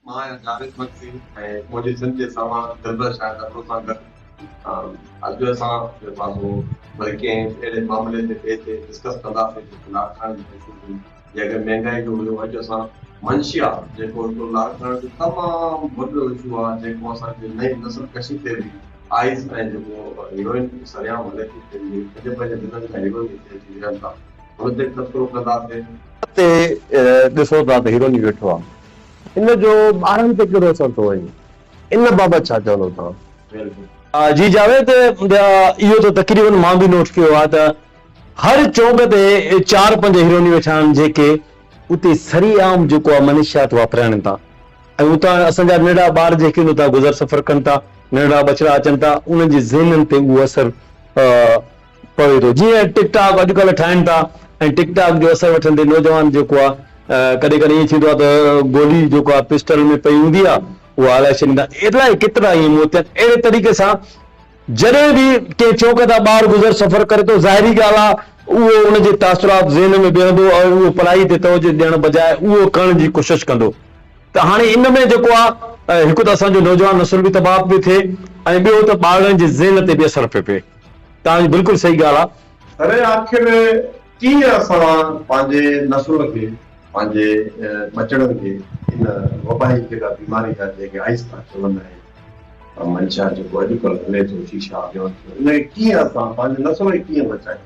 مان آهيان جاويد مگسي ۽ منهنجي سنڌ جي سامان دلبر شاهد ابڙو سان گڏ اڄ اسان جو پاسو وري ڪنهن اهڙي معاملي جي ٻئي تي ڊسڪس ڪنداسين جيڪو لاڙڪاڻي جي حيثيت هئي جيڪڏهن مهنگائي جو هيو اڄ اسان منشيا جيڪو هڪڙو لاڙڪاڻي جو تمام وڏو اشو آهي جيڪو اسان جي نئين نسل ڪشي تي به آئيس ۽ جيڪو هيروئن سرعام هلي ٿي پنهنجي پنهنجي ضلعن جا هيرو ئي هتي اچي ويهن ٿا وڌيڪ تبصرو ڪنداسين. اتي ڏسو ٿا ته هيروني ويٺو آهي. ان جو ٻارن تي ڪهڙو اثر ٿو وڃي. ان بابت ڇا چوندو توهان؟ ويلڊن. جي جاويد، اهو ته تقريبن مان به نوٽ ڪيو آهي ته هر چونڪ تي چار پنج هيرونيون ويٺا آهن جيڪي اتي سري عام جيڪو آهي منشيات واپرايڻ ٿا ۽ اتان اسان جا ننڍڙا ٻار جيڪي ان تان گذر سفر ڪن ٿا ننڍڙا ٻچڙا اچن ٿا انهن جي ذهنن تي اهو اثر پوي ٿو جيئن ٽڪ ٽاڪ اڄ ڪلهه ٺاهن ٿا ۽ ٽڪ ٽاڪ جو اثر وٺندي نوجوان جيڪو آ ڪڏهن ڪڏهن ائين ٿيندو آ ته گولي جيڪو آ پسٽل ۾ پئي هوندي آ اها هلائي ڇڏين ٿا الائي ڪيترا ائين موت ٿيا اهڙي طريقي سان جڏهن به ڪنهن چوڪ تان ٻار گذر سفر ڪري ٿو ظاهري ڳالهه آ اهو ان جي تاثرات ذهن ۾ بيهندو ۽ اهو پڙهائي تي توجه ڏيڻ بجاء اهو ڪرڻ جي ڪوشش ڪندو ته هاڻي ان ۾ جيڪو آ هڪ ته اسان جو نوجوان نسل به تباهه پئي ٿئي ۽ ٻيو ته ٻارڙن جي ذهن تي به اثر پئي پئي. توهان جي بلڪل صحيح ڳالهه آ. اري آخر ڪيئن اسان پنهنجي نسلن کي پنهنجي ٻچڙن کي ان وبائي جيڪا بيماري آهي جنهن کي آئيس ٿا چون ۽ منشا جيڪو اڄڪلهه هلي ٿو شيشا اڳيان ٿيو ان کي ڪيئن اسان پنهنجي نسل کي ڪيئن بچايون.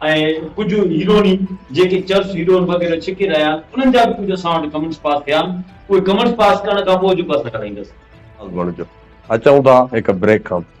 ۽ ڪجهه هيروني جيڪي چرس هيرون وغيره ڇڪي رهيا آهن انهن جا به ڪجهه اسان وٽ ڪمنٽس پاس ٿيا آهن اهي ڪمنٽس پاس ڪرڻ کان پوء جو به اسان ڪرائيندس. ساز بڻجو اچون ٿا هڪ بريڪ کان پوء.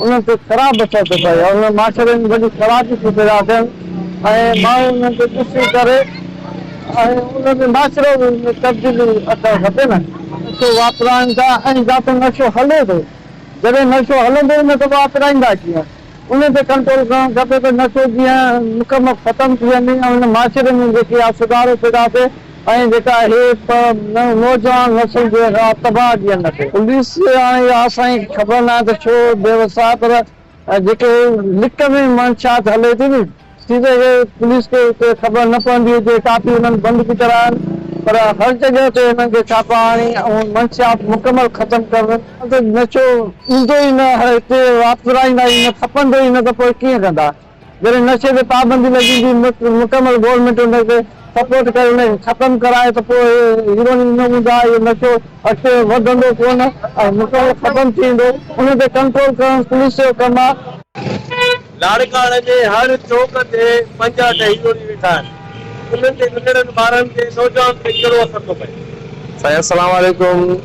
انهن تي خراب اثر ٿو پئي ۽ انهن معاشري ۾ وڏي خرابي ٿي پيدا ٿين ۽ ماڻهو انهن کي ڏسي ڪري ۽ انهن ۾ معاشرو به ان ۾ تبديلي اچڻ کپي نه. نشو واپرائن ٿا ۽ جتي نشو هلي ٿو جڏهن نشو هلندو ئي نه ته واپرائيندا ڪيئن؟ انهن تي ڪنٽرول ڪرڻ کپي ته نشو جيئن مڪمل ختم ٿي وڃي ۽ ان معاشري ۾ جيڪي اها سڌارو پيدا ٿئي. ۽ جيڪا اهي پ ن نوجوان نسل جي را تباهه جي ان تي. پوليس هاڻي اها اسان کي خبر ناهي ته ڇو بي وس آهي پر جيڪي لڪ ۾ منشيات هلي ٿي ني ٿي سگهي پوليس کي اتي خبر نه پوندي هجي ڪافي انهن بند به ڪرايا آهن پر هر جڳهه تي انهن کي ڇاپا هڻي اهو منشيات مڪمل ختم ڪرن ته نشو ايندو ئي نه هتي واپرايندا ئي نه کپندو ئي نه ته پوء ڪيئن ڪندا. جڏهن نشي تي پابندي لڳي ويندي مڪمل گورنمينٽ ان کي سپورٽ ڪري ان کي ختم ڪرائي ته پوء اهي هيروئن ئي نه هوندا اهو نشو اڳتي وڌندو ڪونه ۽ مڪمل ختم ٿي ويندو ان تي ڪنٽرول ڪرڻ پوليس جو ڪم آهي. لاڙڪاڻي جي هر چوڪ تي پنجاهه ته هيروئن ويٺا آهن انهن تي ننڍڙن ٻارن تي نوجوانن تي ڪهڙو اثر ٿو پئي. سائين اسلام عليڪم.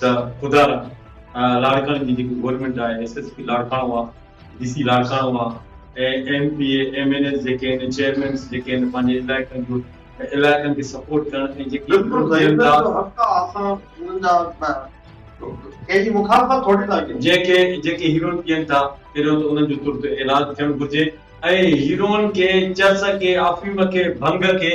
ته خدا را لاڙڪاڻي جي جيڪي گورنمينٽ آهي ايس ايس پي لاڙڪاڻو آ ڊي سي لاڙڪاڻو آ ۽ M P A M N As جيڪي آهن چيئرمينس جيڪي آهن پنهنجي علائقن جو علائقن کي سپورٽ ڪرڻ ۽ جيڪي جنهن کي جيڪي هيروئن پيئن ٿا پهريون ته انهن جو ترت علاج ٿيڻ گهرجي ۽ هيروئن کي چرس کي افيم کي ڀنگ کي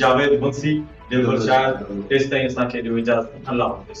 جاويد منشي جي دور شاعر تيستائين اسان کي ڏيو اجازت الله حافظ.